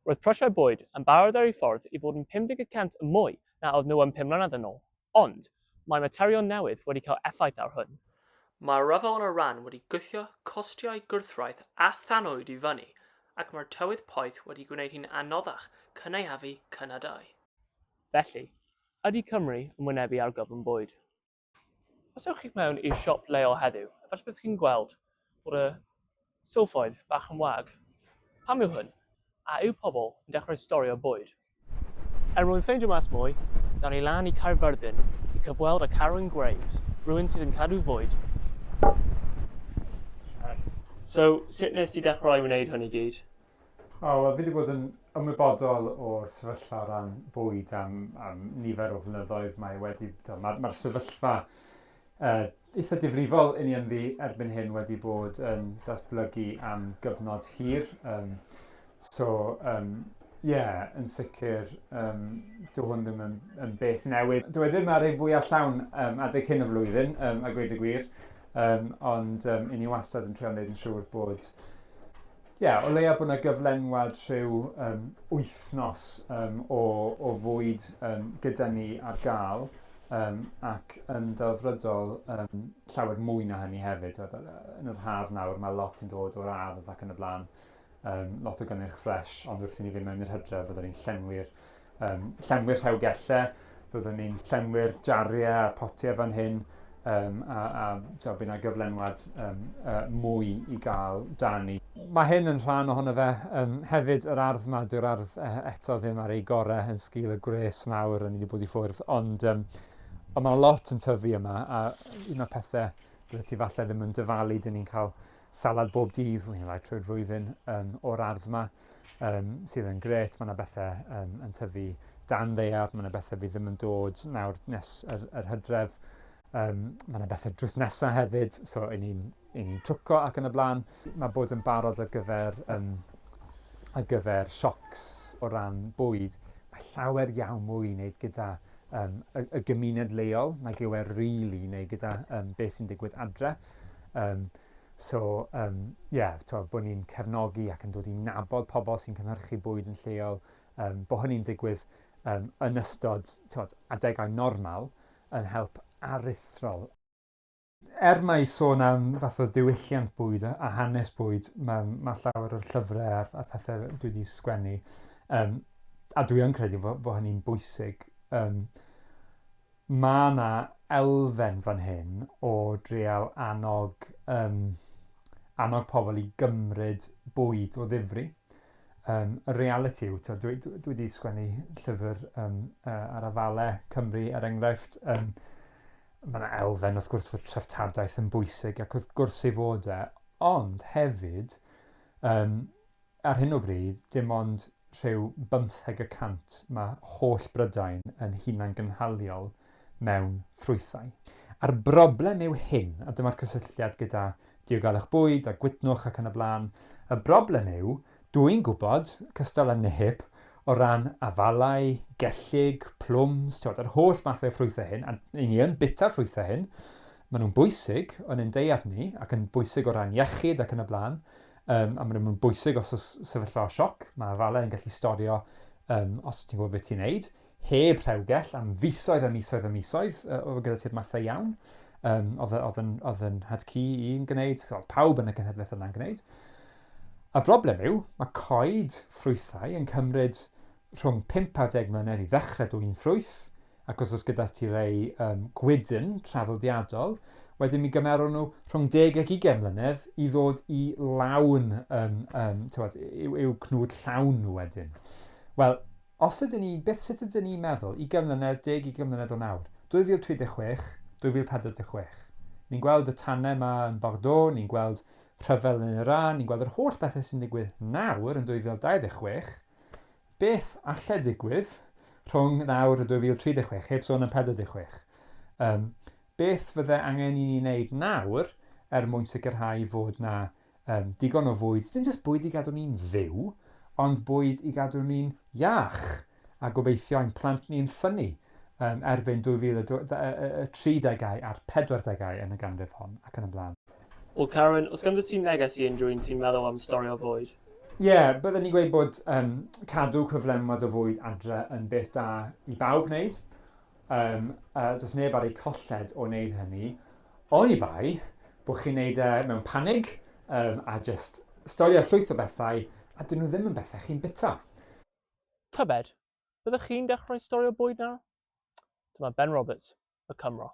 Roedd prisiau bwyd yn barod ar eu ffordd i fod yn 50 y cant yn mwy na oedd nhw am pum mlynedd yn ôl, ond mae materion newydd wedi cael effaith ar hwn. Mae'r rhyfel yn Iran wedi gwthio costiau gwrthwraig a thanwyd i fyny, ac mae'r tywydd poeth wedi gwneud hi'n anoddach cynaeafu cynadau. Felly, ydy Cymru yn wynebu argyfwng bwyd? Os ewch chi'ch mewn i'r siop leol heddiw, efallai byddwch chi'n gweld bod y silffoedd bach yn wag. Pam yw hwn? A yw pobl yn dechrau storio bwyd? Er mwyn ffeindio mas mwy, dawn ni lan i Caerfyrddin i cyfweld â Carwyn Graves, rhywun sydd yn cadw fwyd. So, sut nes ti dechrau wneud hwn i gyd? O, wel, fi wedi bod yn ymwybodol o'r sefyllfa o ran bwyd am, am nifer o flynyddoedd. Mae wedi, mae'r ma sefyllfa uh, eitha difrifol i ni ynddi erbyn hyn wedi bod yn datblygu am gyfnod hir. Um, so, um, yeah, yn sicr, um, dwi hwn ddim yn, yn beth newydd. Dwi e ddim ar ei fwy allawn um, adeg hyn o flwyddyn, um, a gweud y gwir, um, ond um, i ni wastad yn trio wneud yn siŵr bod Ie, o leia bod 'na gyflenwad rhyw yym wythnos yym o o fwyd yym gyda ni ar ga'l yym ac yn ddelfrydol yym llawer mwy na hynny hefyd t'wod yy yy yn yr haf nawr ma' lot yn dod o'r ardd ac yn y bla'n yym lot o gynnyrch ffresh ond wrth i ni fyn' mewn i'r Hydref fydden ni'n llenwi'r Yym, llenwi'r rhewgellau, byddwn ni'n llenwi'r jariau a'r potiau fan hyn, um, a, a so, bydd yna gyflenwad um, uh, mwy i gael da ni. Mae hyn yn rhan ohono fe. Um, hefyd, yr ardd yma, dyw'r ardd uh, eto ddim ar ei gorau yn sgil y gwres mawr rydyn ni wedi bod i ffwrdd, ond um, ond mae lot yn tyfu yma, a un o'r pethau byddai ti falle ddim yn dyfalu, dyn ni'n cael salad bob dydd, wy'n rhaid trwy'r flwyddyn um, o'r ardd yma, um, sydd yn gret. Mae yna bethau um, yn tyfu dan ddeiar, mae yna bethau fi ddim yn dod nawr nes yr, yr hydref. Um, mae yna bethau drws nesaf hefyd, so i ni'n ni twco ac yn y blaen. Mae bod yn barod ar gyfer, um, ar gyfer siocs o ran bwyd, mae llawer iawn mwy i wneud gyda um, y, y gymuned leol nag yw e really neu gyda um, beth sy'n digwydd adre. Um, so, um, yeah, to, bod ni'n cefnogi ac yn dod i nabod pobl sy'n cynhyrchu bwyd yn lleol, um, bod hynny'n digwydd um, yn ystod to, adegau normal yn help aruthrol Er mai sôn am fath o ddiwylliant bwyd a, a hanes bwyd, mae, mae llawer o'r llyfrau a'r, a'r pethau dwi wedi sgwennu, um, a dwi yn credu fod, fod hynny'n bwysig, um, mae yna elfen fan hyn o dreal annog, um, annog pobl i gymryd bwyd o ddifri. Um, y reality yw, dwi, dwi, dwi wedi sgwennu llyfr um, uh, ar afalau Cymru, er enghraifft, um, Mae yna elfen wrth gwrs fod treftadaeth yn bwysig ac wrth gwrs ei fod e, ond hefyd um, ar hyn o bryd dim ond rhyw bymtheg y cant mae holl Brydain yn hunan gynhaliol mewn ffrwythau. A'r broblem yw hyn, a dyma'r cysylltiad gyda diogelwch bwyd a gwydnwch ac yn y blaen, y broblem yw Dw i'n gwybod, cystal â Nehip, o ran afalau, gellyg, plwms, t'wod, yr holl mathau o ffrwythau hyn, a 'yn ni yn bwyta'r ffrwythau hyn, maen nhw'n bwysig yn ein deiet ni, ac yn bwysig o ran iechyd ac yn y blaen, um, a maen nhw'n bwysig os oes sefyllfa o sioc, mae afalau yn gallu storio um, os ti'n gwybod beth ti'n neud, heb rhewgell am fisoedd a misoedd a misoedd, oedd gyda ti'r mathau iawn, um, oedd, oedd, yn, oedd yn had cu i'n gwneud, oedd pawb yn y cenhedlaeth yna'n gwneud. A broblem yw, mae coed ffrwythau yn cymryd rhwng 5 a 10 mlynedd i ddechrau dwy'n ffrwyth, ac os oes gyda ti rei um, gwydyn traddodiadol, wedyn mi gymerwn nhw rhwng 10 ac 20 mlynedd i ddod i lawn um, um, tywed, i'w, i'w cnwd llawn nhw wedyn. Wel, Os ydyn ni, beth sut ydyn ni'n meddwl, ugain mlynedd, deg, ugain mlynedd o nawr? 2036, 2046. Ni'n gweld y tanau yma yn Bordeaux, ni'n gweld rhyfel yn Iran, ni'n gweld yr holl bethau sy'n digwydd nawr yn 2026, beth alle digwydd rhwng nawr a 2036, heb sôn am 46? Yym, beth fydde angen i ni wneud nawr er mwyn sicrhau fod 'na Yym, digon o fwyd, dim jyst bwyd i gadw ni'n fyw, ond bwyd i gadw ni'n iach, a gobeithio ein plant ni yn ffynnu yym erbyn 2030au a'r 40au yn y ganrif hon, ac yn y blaen. Wel Carwyn, os ganddo ti neges i unrhyw un sy'n meddwl am storio bwyd? Ie, bydden i'n gweud bod yym cadw cyflenwad o fwyd adre yn beth da i bawb wneud, Yym, a does neb ar eu colled o wneud hynny, oni bai bod chi'n wneud e mewn panig um, a just storio llwyth o bethau a dyn nhw ddim yn bethau chi'n bita. Tybed, byddwch chi'n dechrau storio bwyd nawr? Dyma Ben Roberts, y Cymro.